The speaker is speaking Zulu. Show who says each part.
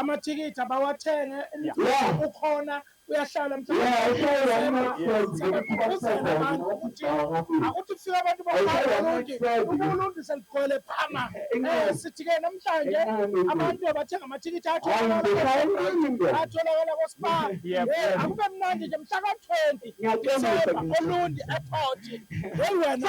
Speaker 1: Amathikithi abawathenge umculo ukhona uyahlala mhlawumbeuzemanje ukuthi akuthi kufika abantu baulundi uma ulundi seligcwele phama um sithi-ke namhlanje abantu abathenga amathikithi atholakala kospa akube mnandi nje mhla ka-twenty disemba olundi ephoti hey wena